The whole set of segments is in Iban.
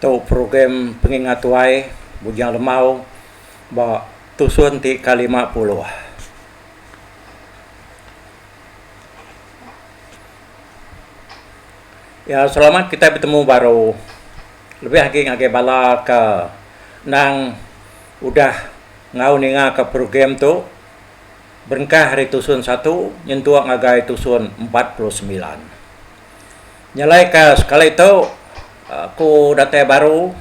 Tu program pengingat tuai Bujang Lemau ba tusun ti ka lima puluh. Iya selamat kitai betemu baru lebih agi ngagai bala ke endang udah enggau ninga ka program tu. Berengkah ari tusun satu nyentuk ngagai tusun empat puluh semilan. Nyelaika sekali tu aku datai baru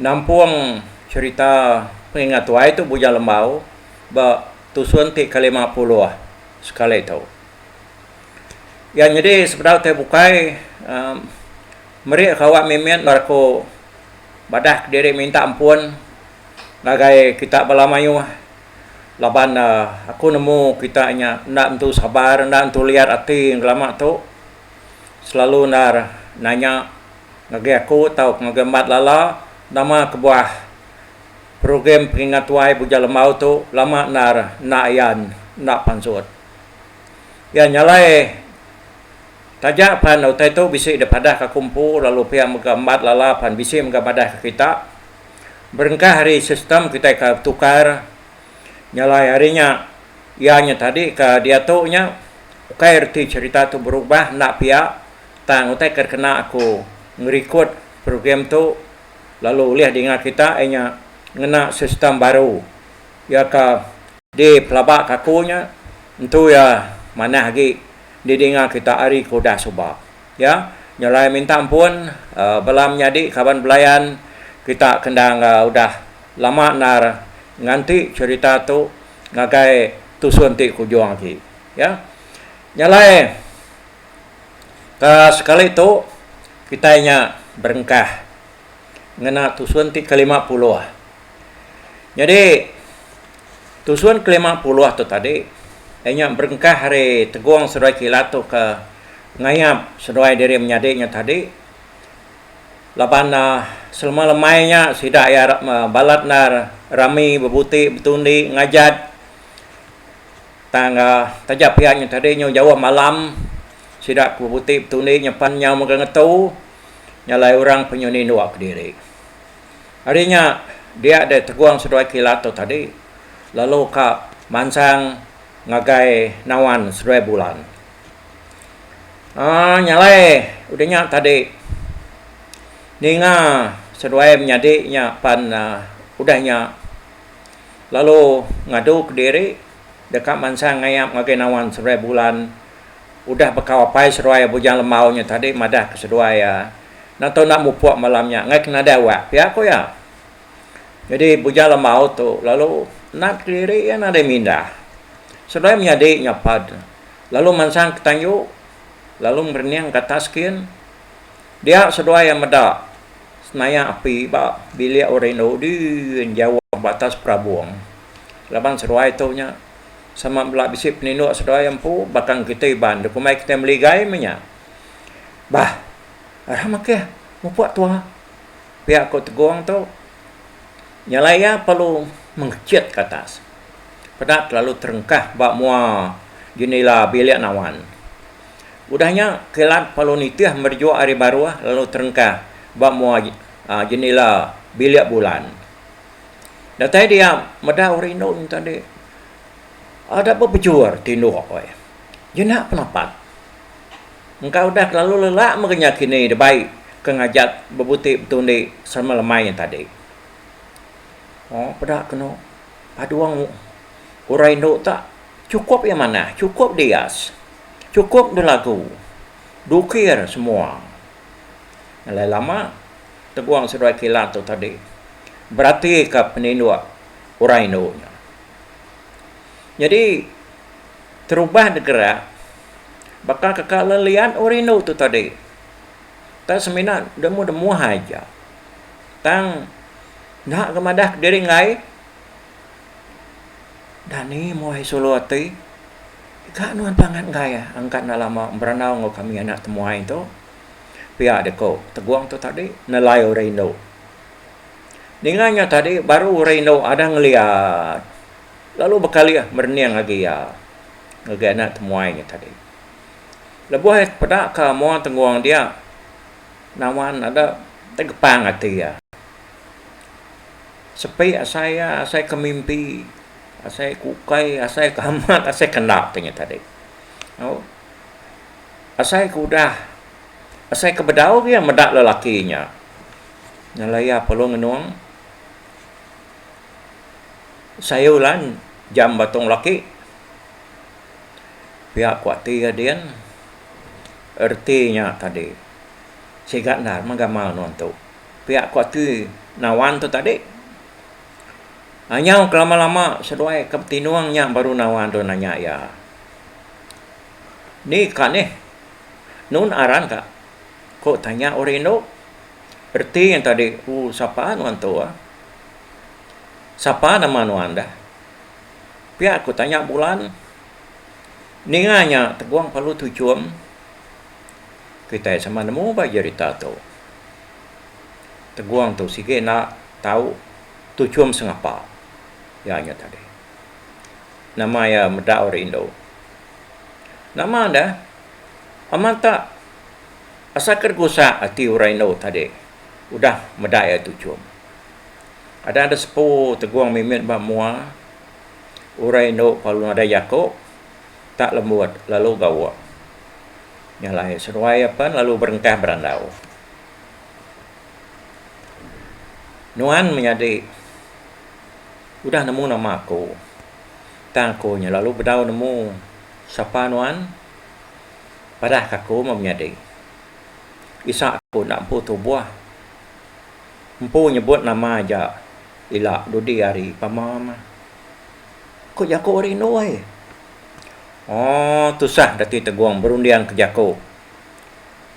nampung cherita pengingat tuai tu Bujang Lembau ba tusun ti ke lima puluh sekali tu. Iya nyadi sebedau tai bukai meri aku awak mimit lalu aku madah diri minta ampun ngagai kita bala mayuh laban aku nemu kita nya enda nentu sabar enda nentu liat ati ngelama tu selalu endar nanya ngagai aku tau ngagai empat lala nama kebuah program pengingat tuai Buja Lembau tu lama endar enda ayan enda pansut iya nya alai taja pan utai tu bisi dipadah ka aku empu lalu pia mega empat lala pan bisi mega madah ka kita. Berengkah ari sistem kitai ke betukar nyelai hari nya iya nya tadi ke diatu nya ukai reti cherita tu berubah enda pia tang utai ke dikena aku ngerikut program tu lalu ulih dinga kita iya nya ngena sistem baru iya ke dipelaba ke aku nya entu iya manah agi didinga kita ari ke udah suba. Iya nyelai minta ampun bala menyadi kaban belayan kita ke enda enggau udah lama endar nganti cherita tu ngagai tusun ti ke ujung agi iya nyelai ke sekali tu kitai nya berengkah ngena tusun ti ke lima puluh nyadi Tusun ke lima puluh tu tadi, iya nya berengkah ari tegong seduai kilat tu ke ngayap seduai diri menyadi nya tadi laban selema lemai nya sida iya balat endar rami bebuti betundi ngajat tang taja pia nya tadi nyau jauh malam sida ke bebuti betundi nyepan nyau mega ngetu nya alai orang penyau nindu kediri. Ari nya dia deh tegong seduai kilat tu tadi lalu ka mansang ngagai nawan seduai bulan. Aaa nyalai udah nya tadi ninga seduai menyadi nya pan udah nya lalu ngadu kediri deka mansang ngayap ngagai nawan seduai bulan udah bekau apai seduai Bujang Lembau nya tadi madah ke seduai iya. Endang tau enda mupuk malam nya ngaika nadai wak pia ku iya. Nyadi Bujang Lamau tu lalu nat kediri iya nadai mindah. Seduai menyadi nyapa deh lalu mansang ke tanju lalu ngerening ke atas kin. Dia seduai iya meda senayak api ba bilik orang indu din jauh ba atas perabung laban seduai tu nya sama bela bisi peninduk seduai iya empu bakang kitai iban deh kumbai kitai meligai meh nya. Bah, arah makeh mupuk tua. Pia ku Tegong tu, nyelai iya perlu mengechit ke atas. Peda kelalu terengkah ba mua jenila bilik nawan. Udah nya, kilat perlu nitih merejuk ari baruh lalu terengkah ba mua jenila bilik bulan. Datai dia meda uri indu nya tadi, ada bebejur tinduk. Jina penapat. engka udah kelalu lelak mega nya kini debai ke ngajat bebuti betundi sama lemai nya tadi. Moo peda keno padung orang indu ta chukup iya manah chukup dias chukup belagu dukir semua alai lama tegong seduai kilat tu tadi beratika peninduk orang indu nya. Nyadi terubah degerak. Baka kaka leliat ori endo tu tadi enda semina demu da muah ai ja tang enda ga madah kediri enggai dani muai sulu ati ga nuan pangan enggai angkat enda lama berandau enggau kami anak temuai tu pia da ku tegong tu tadi nelai ori endo ninga nya tadi baru ori endo ada ngelia lalu bekalih merening agi iya. ngagai anak temuai nya tadi. Lebuh iya tepeda ka Muang Tenggung dia, Nawan ada tegepang ati iya. Sepi asai iya, asai ke mimpi, asai ke ukai, asai ke amat, asai ke enda ti nya tadi. Au. Asai ke udah, asai ke bedau iya meda lelaki nya ngelai iya Pelong Enong. sayau lan jam batong laki pia ku ati ading reti nya tadi siga enda meh gamal nuan tu pia ku ati nawan tu tadi anyau ke lama lama seduai ke betinung nya baru nawan tu nanya iya ni ka nih nun aran ka ku tanya orang indu reti nya tadi ooh sapa nuan tu ah Sapa nama nuan dah? Pia ku tanya Bulan. Ninga nya Tegong Palu Tuchum. Kitai sama nemu ba jerita tu. Tegong tu sigi enda tau Tuchum sengapa iya nyau tadi. Nama iya meda ori indu. Nama dah? Amat tak asa ke gusak ati orang indu tadi. Udah meda iya tu chum. Ada da sepu tegong mimit ba mua urai endo lalu nadai jaku tak lembut lalu gawa nya alai seduai iya pen lalu berengkah berandau. Nuan menyadi udah nemu nama aku tang aku nya lalu bedau nemu sapa nuan padahka aku meh menyadi. Isak aku enda empu tubuh. Empu nyebut nama aja ila dudi hari pama mah. Ku jaku rindu ai. Ooh tusah Datuk Tegong berunding ke jaku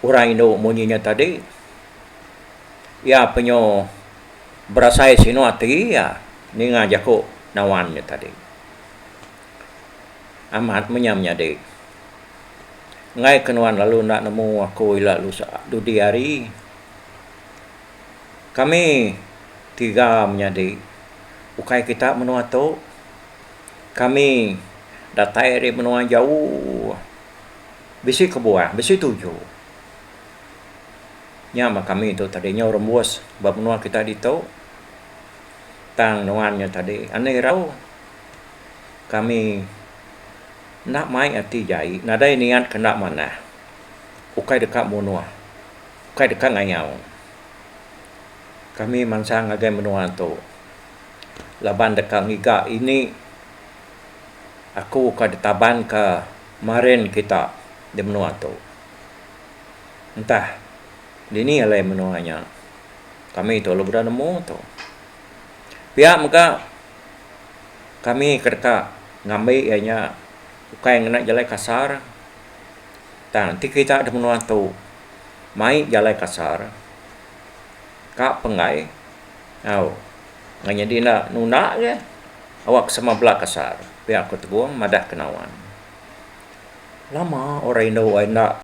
orang indu munyi nya tadi. Iya penyu berasai sinu ati iya ninga jaku Nawan nya tadi. amat menyam nyadi. Enggai ke nuan lalu enda nemu aku ila dudi hari. Kami tiga menyadi ukai kita menua tu. Kami datai ari menua jauh. Bisi kebuah, bisi tuju. Nya mah kami tu tadi nyau rembus ba menua kita ditu. Tang nuan nya tadi anih irau. kami enda mai ati jai nadai niat ke enda manah ukai deka munuh ukai deka ngayau kami mansang ngagai menua tu laban deka ngiga ini aku ke ditaban ka marin kita di menua tu entah dini alai menua nya kami tu lalu udah nemu tu pia mega. kami ke deka ngambi iya nya ukai ngena jalai kasar tang ti kita da menua tu mai jalai kasar ka penggai au meh nyadi enda nunda leh awak sama bala kasar pia ku Tebong madah ke Nawan. Lama orang indu ai enda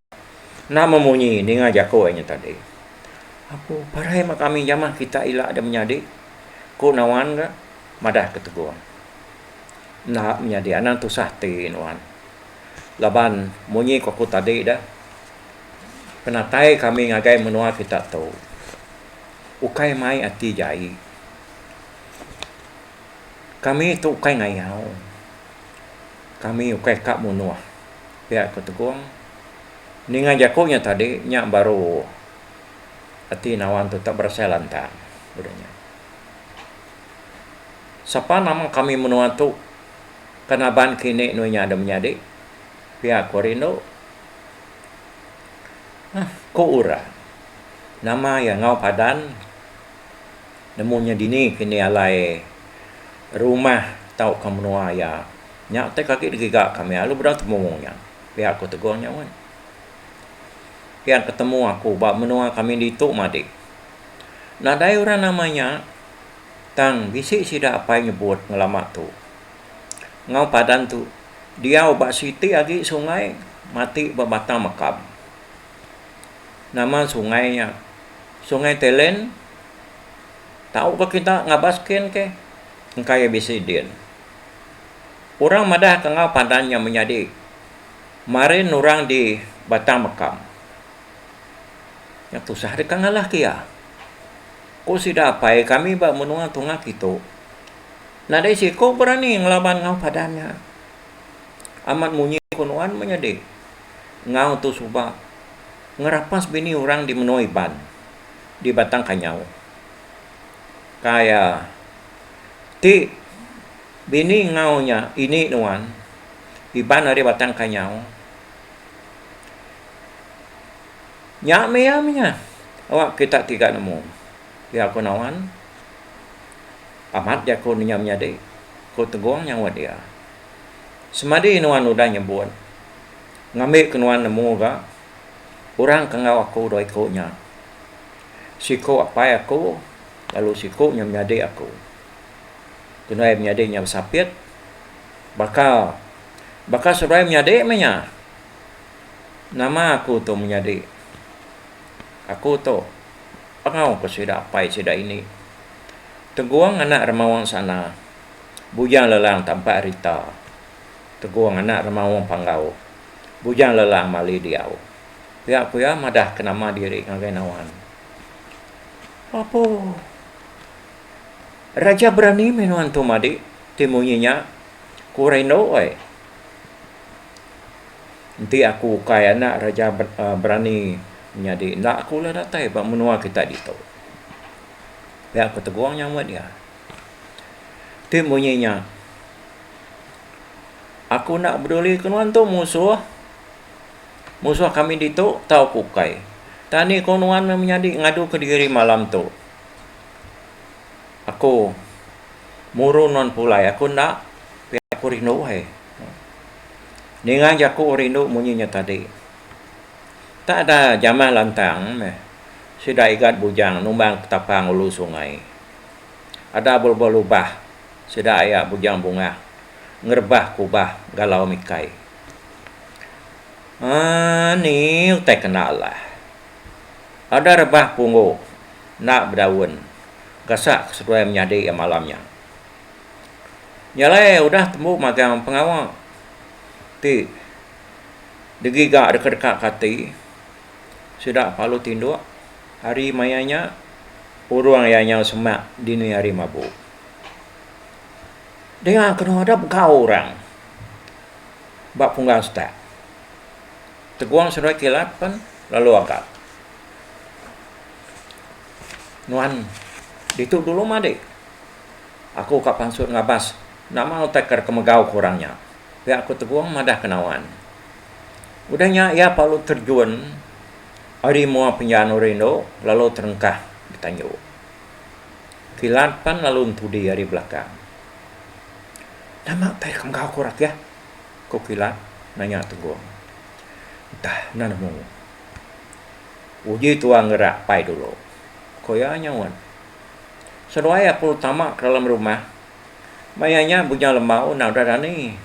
enda memunyi ninga jaku iya nya tadi. Aku parai meh kami jamah kita ila da menyadi. Ku Nawan ka madah ke Tegong. Enda menyadi anang tusah ti nuan. Laban munyi ku aku tadi da, penatai kami ngagai menua kita tu ukai mai ati jai. Kami tu ukai ngayau. Kami ukai ka munuh, pia ku Tegong. Ninga jaku nya tadi nya baru. Ati nawan tu tak berasai lantang, udah nya. Sapa nama kami menua tu ke naban kini nuh nya dah menyadi? Pia ku rindu. Hah, ku orang. Nama iya enggau padan nemu nya dini kini alai rumah tauka menua iya nya utai ke agi digiga kami lalu beda tembu nya, pia ku Teguh nya mun. Pian petemu aku ba menua kami ditu madik. Nadai orang nama nya tang bisi sida apai nyebut ngelama tu. Enggau padan tu diau ba siti agi sungai matik ba batang makam. Nama sungai nya Sungai Telen. Tau ka kita ngabas ken ke engka iya bisi din. Orang madah ka enggau padan nya menyadi. Marin orang di Batang Mekam. Nya tusah deka ngalahka iya. Ku sida apai kami ba menua Tunga Kitu, nadai seiku berani ngelaban enggau padan nya. Amat munyi ku nuan menyadi enggau tu suba ngerapas bini orang di menua Iban di Batang Kanyau. Kai iya ti Bini enggau nya ini nuan. Iban ari batang kanyau. Nya meh iya meh nya. Awak kita ti ga nemu. Iya ku nawan. Amat jaku nenya menyadi, ku Tegong nyaut iya. Semadi nuan udah nyebut, ngambi ke nuan nemu ga, orang ke enggau aku dua iku nya. Siku apai aku lalu siku nya menyadi aku. Tunuai menyadi nya besapit. Baka baka seruai menyadi meh nya. Nama aku tu menyadi. Aku tu pengawa ke sida apai sida ini. Tegung anak remawang sana. Bujang lelang tampak rita. Tegung anak remawang panggau. Bujang lelang mali diau. Pia ku iya madah ke nama diri ngagai nawan. Apuh. Raja berani meh nuan tu madi ti munyi nya, ku Reno ai. Enti aku ukai anak raja berani nyadi enda aku ula datai ba menua kita ditu. Pia aku tegong nya meh dia. Ti munyi nya aku enda peduli ke nuan tu musuh, musuh kami ditu tau ku ukai. Tang ni ku nuan meh menyadi ngaduka diri malam tu. Aku muru nuan pulai aku enda pia aku rindu ai. Ninga jaku rindu munyi nya tadi. Tak ada jamah lantang meh sida igat bujang numbang petapang ulu sungai. Ada belebuh lubah sida aya bujang bungah ngerebah kubah galau mikai. Aaa ni utai kena lah. Ada rebah punggu enda bedaun gasak ke seduai menyadi iya malam nya. Nya alai udah tembu magang pengawa ti digiga deka-deka ke ati sida palu tinduk hari maya nya urung iya nyau semak dini hari mabu. Dinga kenu adep gau orang ba punggang setak. Teguang seduai kilat pen lalu agat. Nuan ditu dulu madi. Aku ka pansut ngabas nama utai ke dikemegau ke orang nya. Pia aku Teguang madah ke Nawan. Udah nya iya palu terjun ari mua penjanu rindu lalu terengkah betanju. Kilat pen lalu entudi ari belakang. Nama utai dikemegau ke orang kia? Ku Pilat nanya Tunggung. Ntah enda nemu. Uji tua ngera pai dulu, ku iya nyaut. Seduai aku tama ke dalam rumah, maya nya Bujang Lembau enda udah dani.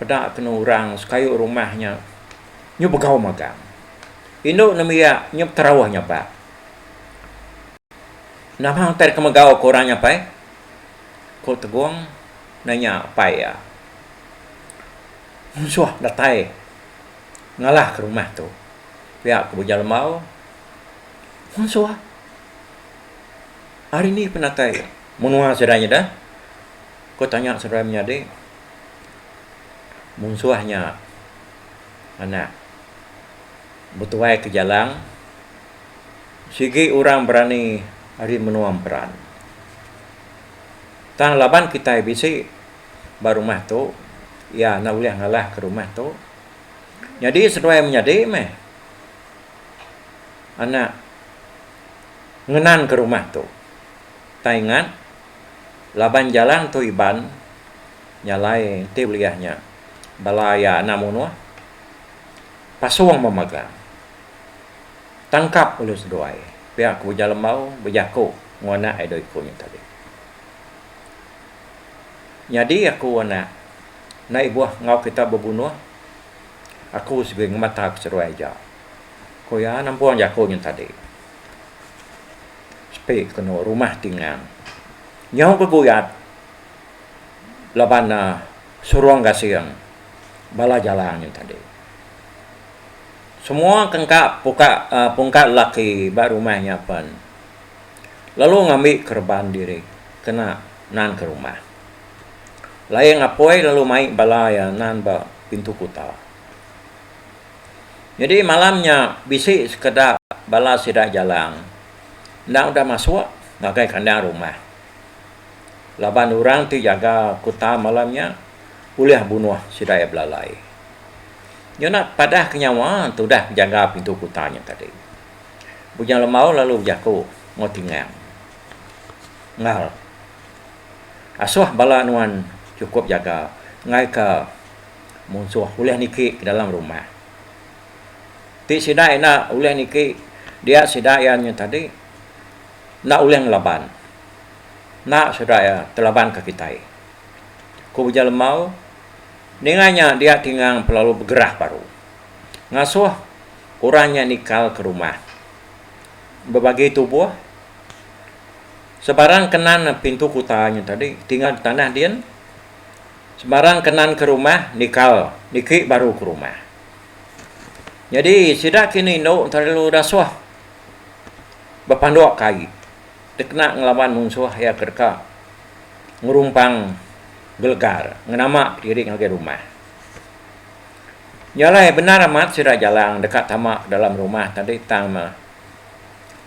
Peda kenu orang sekayu rumah nya nyu begau magang. Indu nembiak nyu beterauh nyabak. Nama utai deka megau, ku orang nya pai. Ko Tegong nanya apai iya. Munsuh datai ngalah ke rumah tu. Pia ko Bujang Lembau, Munsuh? Ari ni penatai iya? Menua sida nyida? Ko tanya seduai menyadi. Munsuh nya anak betuai ke Jalang. Sigi orang berani ari menua emperan. Tang laban kitai bisi ba rumah tu, iya enda ulih ngalahka rumah tu. Nyadi seduai menyadi meh anak ngenanka rumah tu. Tang ingat, laban jalan tu Iban nya alai enti beliah nya bala iya enda munuh, pasung memagang. tangkap ulih seduai pia ke Ujar Lembau bejaku enggau anak iya dua iku nya tadi. Nyadi aku anak enda ibuh enggau kita bebunuh aku segera ngemata ku seduai aja ku iya nampung jaku nya tadi. Sepi ku anu rumah ti ngang nyau bebuyat laban ne surung gasing bala jalang nya tadi. Semua kengka puka pungka lelaki ba rumah nya pen lalu ngambi kereban diri kena nan ke rumah. Laing apoi lalu mai bala iya nan ba pintu kuta. Nyadi malam nya bisi sekeda bala sida Jalang enda udah masuk ngagai kandang rumah laban orang ti jaga kuta malam nya ulih bunuh sida iya belalai. Nyona padah ke nyawa tudah bejaga pintu kuta nya tadi. Bujang Lembau lalu bejaku enggau Tingang, Ngal, asuh bala nuan chukup jaga ngaika munsuh ulih niki ke dalam rumah. Ti sida enda ulih niki dia sida iya nya tadi enda ulih ngelaban. Enda sida iya telabanka kitai, ku Bujang Lembau. Ninga nya dia Tingang belalu begerah baru. Ngasuh orang nya nikal ke rumah. Bebagi tubuh. Sebarang kenan pintu kuta nya tadi Tingang betanah din. Sebarang kenan ke rumah nikal niki baru ke rumah. Nyadi sida kini indu ntah lalu dasuh bepanduk ke ai dikena ngelaban munsuh iya ke deka ngerumpang. gelegar ngenama diri ngagai rumah. Nya alai bendar amat sida Jalang deka tama dalam rumah tadi tang meh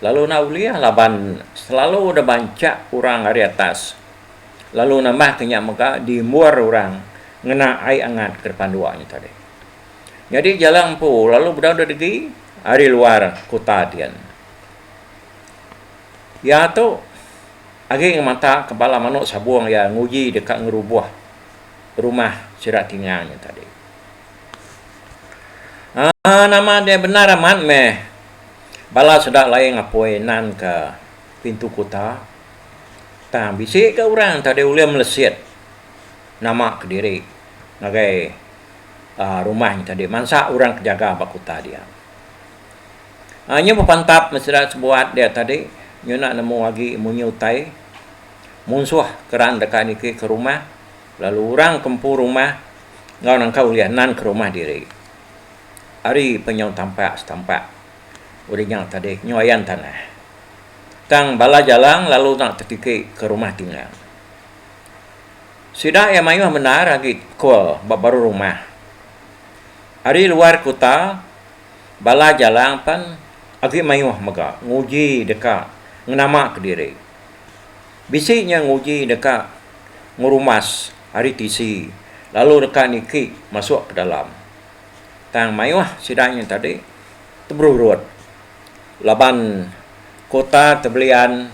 lalu enda ulih laban selalu deh bancha orang ari atas lalu nambah ke nya mega dimbur orang ngena ai angat ke depan dua nya tadi. Nyadi Jalang empu lalu bedau deh degi ari luar kuta dian. Iya tu. Agi ngemata ke bala manuk sabung iya nguji deka ngerubuh rumah sida tinga nya tadi. Aa nama dia bendar amat meh bala sida laie ngapoi nan ke pintu kuta tang bisi ga orang tadi ulih melesit nama kediri ngagai aa rumah nya tadi mansa orang ke jaga ba kuta dia. Nyu bepantap mesra sebuat dia tadi nyuna nemu agi munyi utai munsuh keran deka niki ke rumah lalu orang ke empu rumah enggau nangka ulih nan ke rumah diri. Ari penyau tampak setampak udah nya tadi nyu ayan tanah. Tang bala jalang lalu enda tetiki ke rumah tinggal. Sida iya mayuh bendar agi kul ba baruh rumah. Ari luar kuta Bala Jalang pan agi mayuh mega nguji deka ngenama kediri. Bisi nya nguji deka ngerumas ari tisi lalu deka niki masuk ke dalam. Tang mayuh sida nya tadi teberurut laban kota ke belian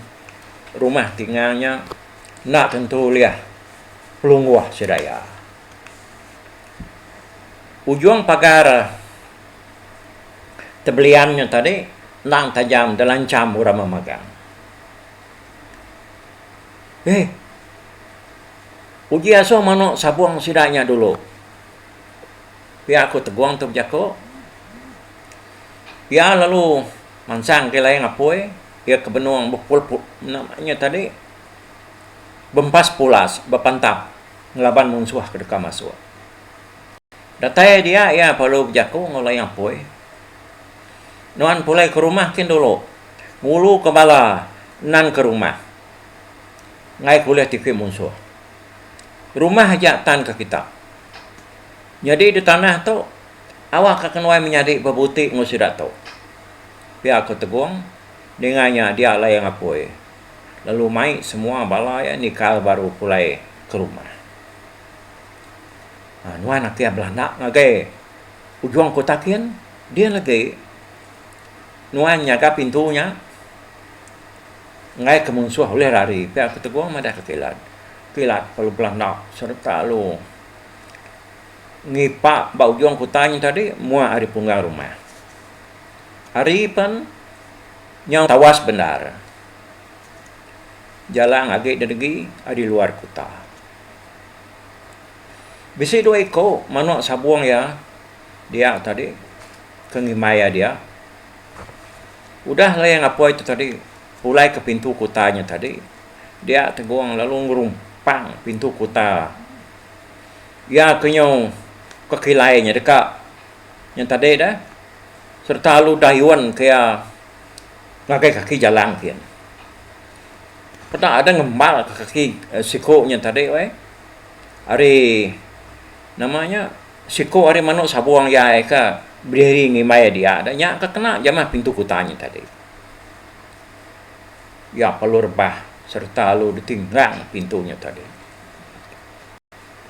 rumah tingang nya enda tentu ulih pelungguh sida iya. Ujung pagar. tebelian nya tadi endang taja delancham orang memagang. Heh. Uji asuh manu sabung sida nya dulu. Pia aku Tegong tu bejaku. Pia lalu mansang ke layang apui, iya ke benung bepul-pul nama nya tadi bempas pulas bepantap ngelaban munsuh ke deka masuk. Datai dia iya perlu bejaku enggau Lai Apoi. Nuan pulai ke rumah kin dulu. Ngulu ke bala nan ke rumah. Enggai ke ulih tipi munsuh. Rumah aja tan ke kita. Nyadi di tanah tu, awakka ke nuai menyadi bebuti enggau sida tu. Pia ku Tegong, ninga nya dia Lai Apoi lalu mai semua bala iya nikal baru pulai ke rumah. Aaa nuan ati belanda ngagai ujung kota kin din agi nuan nyaga pintu nya ngaika munsuh ulih lari pia ku Teguh madahka kilat. Kilat lalu belanda sereta lalu ngipak ba ujung kota nya tadi muak ari punggang rumah. Ari pen nyau tawas bendar jalang agi dengegi ari luar kota. Bisi dua iku manuk sabung iya dia tadi ke ngimbai iya dia. Udah lay ngapoi tu tadi pulai ke pintu kuta nya tadi dia tegong lalu ngerumpang pintu kuta. Iya ke nyau ke kilai nya deka nya tadi dah sereta lalu dayun ke iya ngagai kaki jalan kiye. Peda ada ngembar ka kaki siko nya tadi weh ari nama nya siko ari manu sabong iya ka berdiri ngimbai dia da nya ka kena jamah pintu kuta nya tadi. Iya perlu rebah sereta lalu ditinggang pintu nya tadi.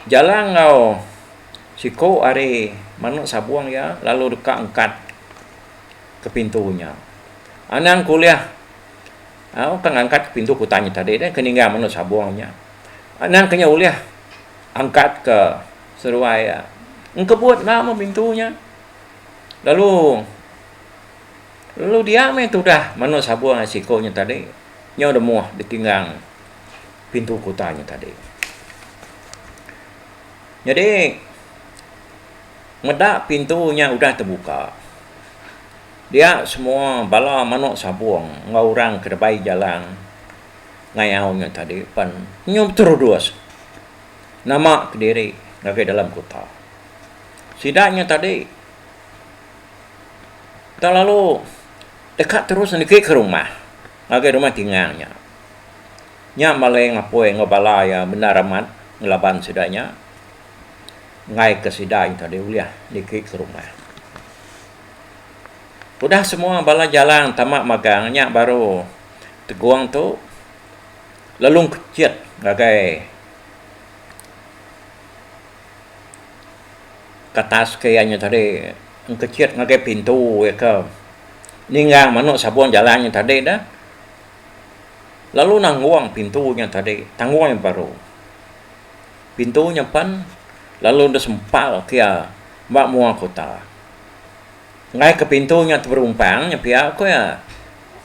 Jala enggau siko ari manu sabong iya lalu deka ngkat ke pintu nya. Anang kuliah Au tang angkat pintu kutang nya tadi deh ke ninggal menu sabong nya. Anang ke nya ulih angkat ke seruai iya. Engkebut enda meh pintu nya. Lalu lalu dia meh tudah menu sabong ai siko nya tadi. Nyau demoh ditinggang pintu kutang nya tadi. Nyadi meda pintu nya udah tebuka. Dia semua bala manuk sabung enggau orang ke debai jalan ngayau nya tadi pen nyu beterudus nama kediri ngagai dalam kuta. Sida nya tadi tak lalu deka terus negi ke rumah ngagai rumah tingang nya. Nya maleng apoi enggau bala iya bendar amat ngelaban sida nya ngaika sida nya tadi ulih negi ke rumah. Udah semua bala jalang tama magang nya baru tegung tu lelung kechit ngagai katas ke iya nya tadi engkechit ngagai pintu iya ke ninggang manu sabung jalang nya tadi dah lalu nanggung pintu nya tadi tanggung iya baru. Pintu nya pan lalu enda sempal kia ba mua kota. Enggai ke pintu nya teberumpang nya pia ku iya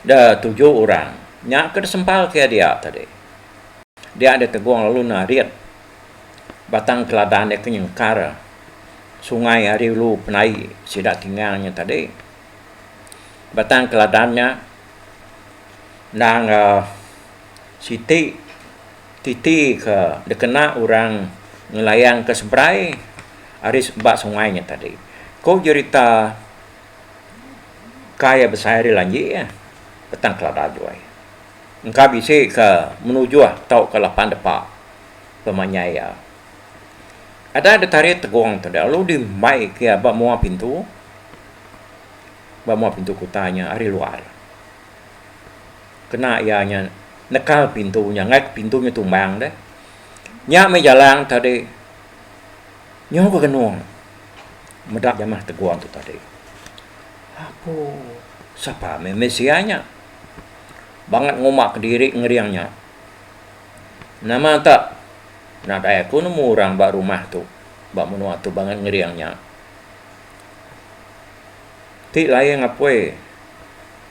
da tuju orang nya ke desempal kia dia tadi. Dia enda tegong lalu narit batang keladan dia ke nyengkar sungai ari ulu penai sida tingang nya tadi. Batang keladan nya endang siti. Titi ke dikena orang ngelayangka seberai ari ba sungai nya tadi. Ku jerita kai iya besai ari lanji iya, petang kelada juai. Engka bisi ke menujuh tauka lapan depa pemanyai iya. Ada ditarit tegong tu deh lalu dimbaika iya ba mua pintu, ba mua pintu kuta nya ari luar. kena iya nya nekal pintu nya ngaik pintu nya tumbang deh nya meh jalang tadi nyau ga genung meda jamah tegung tu tadi apo sapa meh meh sia nya bangat nguma kediri ngering nya nama tak nadai ku nemu orang ba rumah tu ba menua tu bangat ngering nya. Ti laing apoi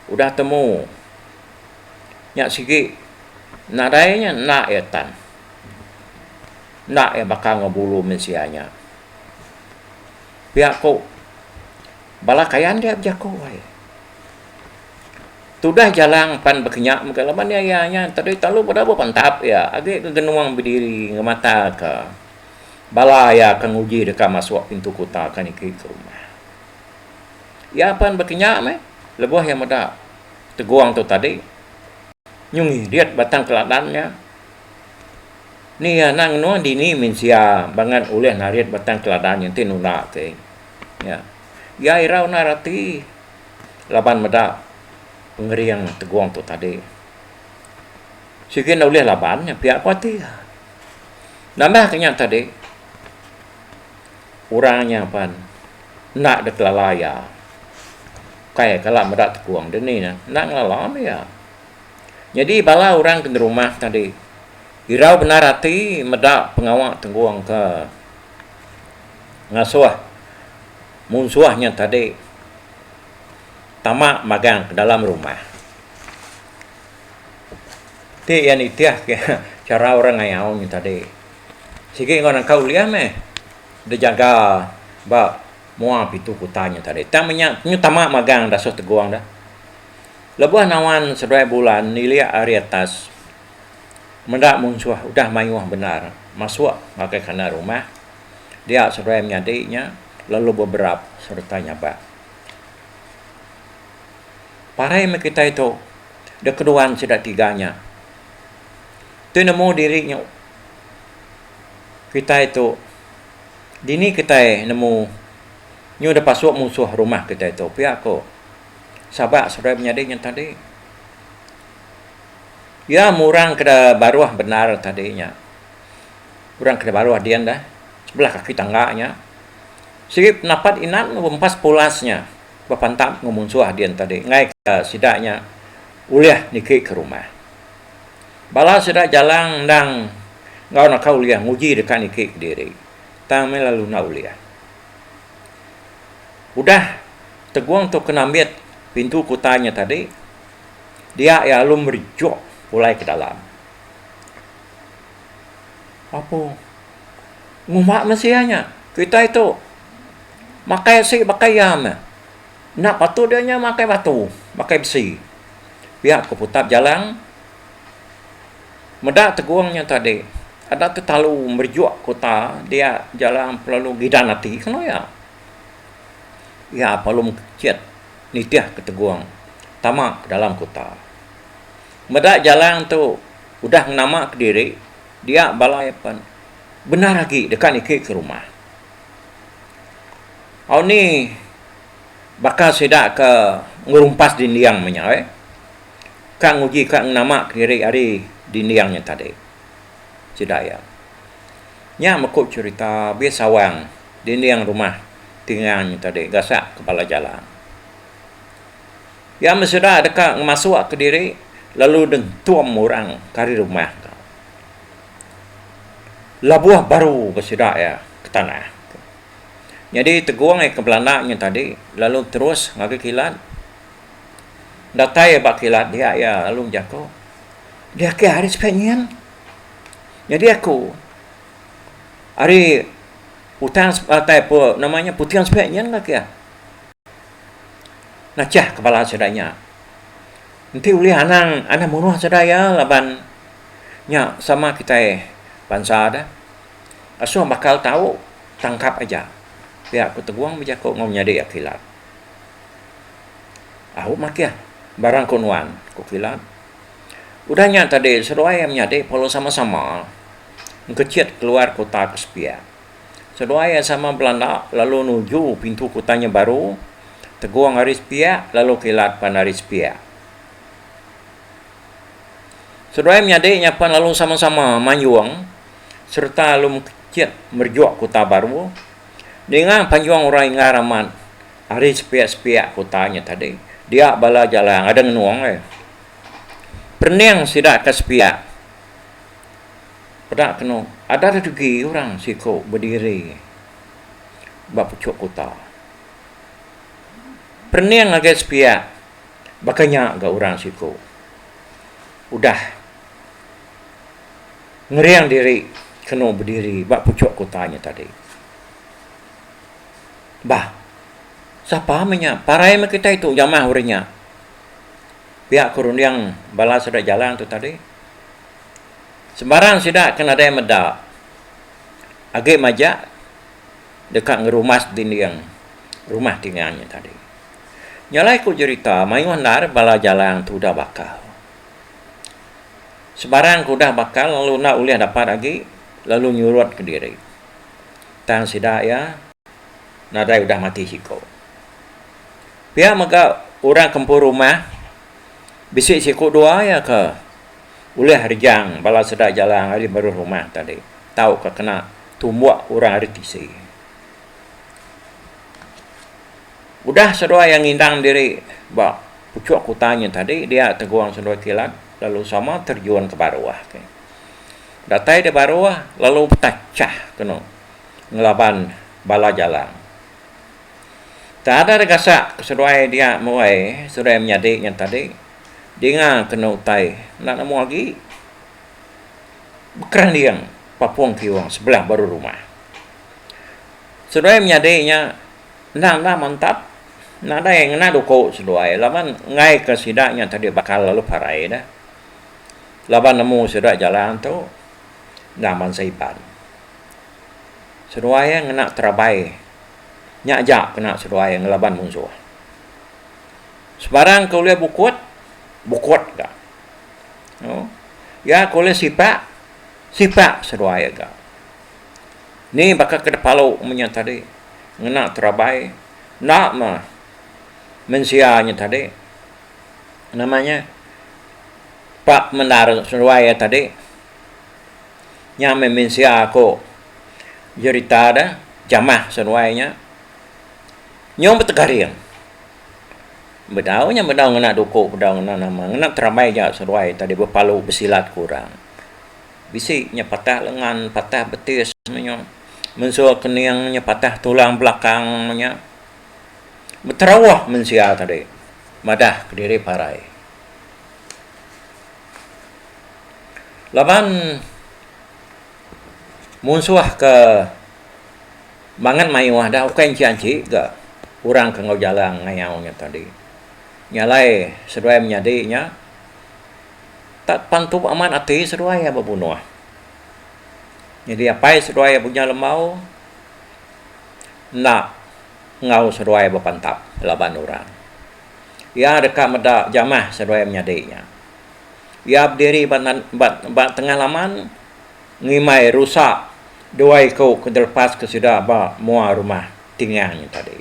udah temu nya sigi nadai nya enda iya tan. Enda iya baka enggau bulu mensia nya. Pia ku bala kayan dia bejaku ai tudah jalang pan bekenyak mega laban iya iya nya tadi telalu udah bepentap iya agi ke genung bediri ngemataka bala iya ke nguji deka masuk pintu kuta ke niki ke rumah. Iya pan baka nya meh lebuh iya meda tegong tu tadi. Nyu ngidit batang keladan nya. Ni iya enda ngenung dini mensia bangat ulih narit batang keladan nya enti nunda ke. Nya. Iya irau nda rati laban meda pengering tegong tu tadi. Sigi nda ulih laban nya pia ku ati iya. Nambahka nya tadi. Orang nya pan enda dikelala iya. Ukai kala meda tekung dini nya enda ngelala meh iya. Nyadi bala orang ke nerumah tadi irau bendar ati meda pengawa tenggung ke ngasuh munsuh nya tadi tama magang ke dalam rumah. Ti iya nitihka chara orang ngayau nya tadi. Sigi enggau nangka ulih meh dijaga ba mua pitu kuta nya tadi. Tang meh nya nyu tama magang dasuh tegong da. Lebuh nawan seduai bulan nilik ari atas meda munsuh udah mayuh bendar masuk ngagai kandang rumah dia seduai menyadi nya lalu beberap sereta nyabak. Parai meh kitai tu dikeduan sida tiga nya. Tu nemu diri nyu kitai tu dini kitai nemu nyu da pasuk musuh rumah kitai tu pia ko Sabak seduai menyadi nya tadi ya meh orang ke da baruh bendar tadi nya orang ke da baruh din da sebelah kaki tangga nya sigi penapat inan rempas pulas nya bepantap enggau musuh din tadi ngaika sida nya ulih niki ke rumah. Bala sida jalang endang enggau naka ulih nguji deka niki kediri tang meh lalu enda ulih. Udah Tegong tu kena ambit pintu kutai nya tadi, dia iya alu merejuk pulai ke dalam. Apo ngumba mensia nya kitai tu makai asi baka iya meh. Enda patut dia nya makai batu, makai besi. Pia ku Putap Jalang meda tegung nya tadi. Enda tetalu merejuk kuta dia Jalang pelalu ngidan ati kenu iya. Iya pelalu mekejit nitihka tegung tama ke dalam kuta. Meda Jalang tu udah ngenamaka diri dia bala iya pen bendar agi deka niki ke rumah. Au ni baka sida ke ngerumpas dinding menyau ka nguji ka ngenama kediri ari dinding nya tadi. Sida iya. Nya meku cherita bih sawang dinding rumah tingang nya tadi gasak ke bala jalan. Iya men sida deka ngemasuk ke diri lalu dentum orang ke ari rumah tu. Labuh baru ba sida iya ke tanah. Nyadi Tegong iya ke belanda nya tadi lalu terus ngagai kilat. Datai iya ba kilat dia iya lalu bejako, Di ake hari sida nyin. Nyadi aku ari utan datai nama nya puting sida nyin ka kiya. Nachah ke bala sida nya. Enti ulih anang anang munuh sida iya laban nya sama kitai bansa deh. Asoh bakal tau tangkap aja pia ku Tegong bejaku enggau menyadi Akilat. Au makih barang ku nuan, ku Kilat. Udah nya tadi seduai iya menyadi perlu sama-sama engkechit keluar kuta ke sepiak. Seduai iya sama belanda lalu nuju pintu kuta nya baru, Tegong ari sepiak lalu Kilat pan ari sepiak. Seduai menyadi nya pan lalu sama-sama manjung. sereta alu mekecek merejuk kuta baru ninga panjung orang Ingar amat ari sepiak-sepiak kuta nya tadi dia bala jalai ngada ngenung alai perening sida ke sepiak peda kenu ada redugi orang siku bediri ba pechuk kuta perening ngagai sepiak baka nya ga orang siku udah. ngering diri kenu bediri ba puchok kuta nya tadi. Bah, sapa meh nya? Parai meh kitai tu jamah uri nya. Pia ku runding bala sida jalan tu tadi. Sembarang sida ke nadai meda agi majak deka ngerumas dinding rumah tinga nya tadi. Nya alai ku jerita mayuh endar bala jalang tu udah bakal. Sebarang ke udah bakal lalu enda ulih dapat agi lalu nyurutka diri. Tang sida iya nadai udah matik siku. Pia mega orang kempuru rumah bisi siku dua iya ke ulih rejang bala sida jalang ari baruh rumah tadi tauka kena tumbuk orang ari tisi. Udah seduai iya ngindang diri ba puchuk kuta nya tadi dia tegung seduai kilat lalu sama terjun ke baruh ke. Datai di baruh lalu betachah kenu ngelaban bala jalang. Taada da gasak ke seduai dia muai seduai menyadi nya tadi dinga kenu utai enda nemu agi bekeranding papung kiyung sebelah baruh rumah. Seduai menyadi nya Enda enda mantap. Nadai ngena duku seduai laban ngaika sida nya tadi bakal lalu parai deh. Laban nemu sida jalan tu enda mansa Iban. Seduai ngena terabai nya aja kena seduai ngelaban munsuh. Sebarang ke ulih bukut, bukut ga. Iya ke ulih sipak, sipak seduai ga. Ni baka ke dipalu mu nya tadi ngena terabai enda mah mensia nya tadi nama nya pa mendar seduai iya tadi nya meh mensia ku jerita da jamah seduai nya nyau betegaring bedau nya bedau ngena duku bedau ngena nama ngena terabai ja seduai tadi bepalu besilat ku orang. Bisi nya patah lengan, patah betis meh nya. Mensur kening nya patah tulang belakang meh nya. Beterauh mensia tadi madah kediri parai. Laban munsuh ke mangat mayuh dah ukai enti anti ga orang ke enggau jalang ngayau nya tadi. Nya alai seduai menyadi nya. Tap pan tu amat ati seduai iya bebunuh. Nyadi apai seduai iya Bunyah Lembau enda enggau seduai bepantap laban orang. Iya deka meda jamah seduai menyadi nya. Iya bediri ba nan ba tengah laman ngimbai rusa dua iku ke dilepaska sida ba mua rumah Tingang nya tadi.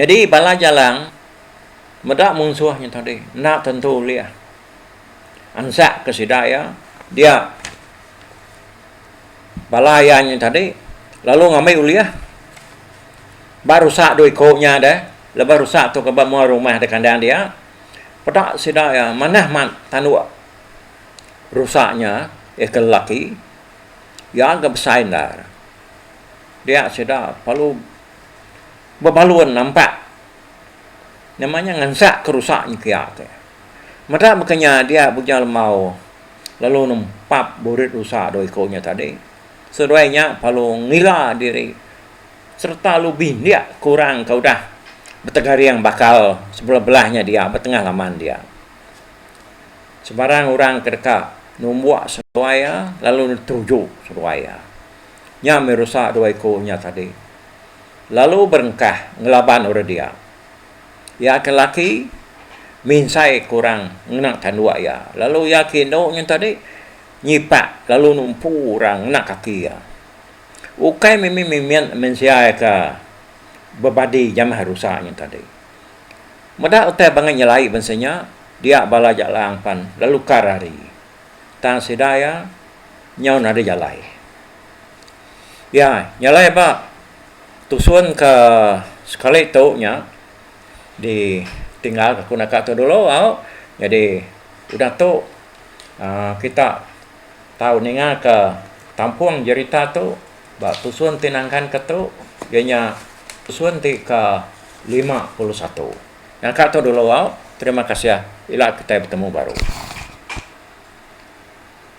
Nyadi bala jalang. meda munsuh nya tadi enda tentu ulih ansak ke sida iya dia bala iya nya tadi lalu ngambi ulih ba rusak dua iko nya deh lebuh rusak tu ke ba mua rumah da kandang dia peda sida iya manah mat tanduk rusak nya iya ke lelaki iya ga besai endar dia sida perlu bebalun nampak Nama nya ngansak ke rusak nya kia te. Meda baka nya dia Bujang Lembau lalu nempap burit rusak dua iku nya tadi. Seduai nya lalu ngila diri sereta lalu bindik ke orang ke udah betegaring bakal sebelah belah nya dia ba tengah laman dia. Sebarang orang ke deka numbuk seduai iya lalu netuju seduai iya. Nya meh rusak dua iku nya tadi. lalu berengkah ngelaban orang dia. Iya ke laki minsai ke orang ngena tanduk iya, lalu iya ke indu nyin tadi nyipak lalu numpu orang ngena kaki iya. Ukai mimi mimit mensia ke bebadi jamah rusa nyin tadi. Meda utai bangai nyelai bansa nya, dia bala jalang pan lalu ka rari. Tang sida iya nyau nadai jalai. Iya nyelai ba tusun ke sekali tu nya ditinggal aku naka tu dulu au jadi udah tu aaa kita tau ninga ke kampung jerita tu ba tusun ti nangkan ke tu iya nya tusun ti ke lima puluh satu. Naka tu dulu au terima kasih ila kitai betemu baru.